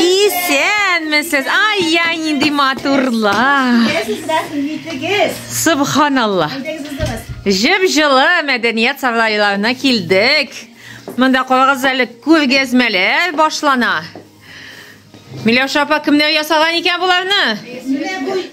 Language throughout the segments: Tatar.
Исәнмесез! Ай-яй, нинди матурлар! Субханалла! Җеп жылы мәдәният сарайларына килдек. Монда карагыз әле күргәзмәләр башлана. Миләүшә апа кемнәр ясаган икән боларны?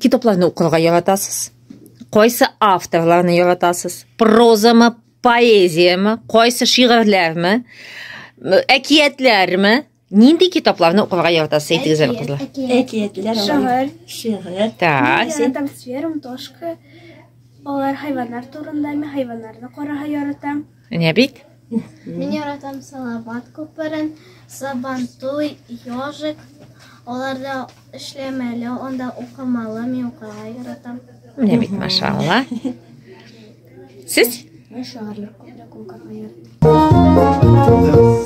Китапларны укырга яратасыз? Кайсы авторларны яратасыз? Прозамы, поэзиямы, кайсы шигырьләрме, әкиятләрме? Нинди китапларны укырга яратасыз, әйтегез әле, кызлар? Әкиятләр, шигырь, шигырь. Так. Яратам сферум, тошка. Алар хайваннар турында, мин хайваннарны карарга яратам. Менә бит. Мин яратам Салават күперен, Сабантуй, Ёжик. Аларда эшләмәле, анда укымалы, мин укырга яратам. Менә бит, машалла. Сез? Мин шагыйрлык күбрәк укырга яратам.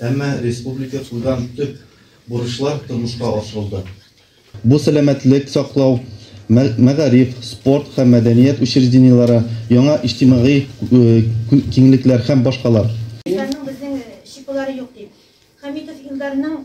Әмма республика куйган төп бурычлар тормышка ашырылды. Бу сәламәтлек саклау, мәгариф, спорт һәм мәдәният учреждениеләре, яңа иҗтимагый киңлекләр һәм башкалар. Илдарның безнең чипылары юк, ди Хәмитов Илдарның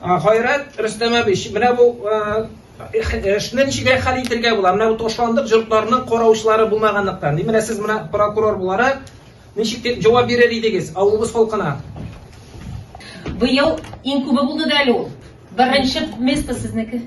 Гайрат Рөстәм абич, менә бу эшне ничегрәк хәл итергә була? Менә бу ташландык җортларның караучылары булмаганлыктан. Менә сез менә прокурор буларак ничек дип җавап бирер идегез авылыбыз халкына? Быел иң күбе булды да әле ул. Беренче место сезнеке.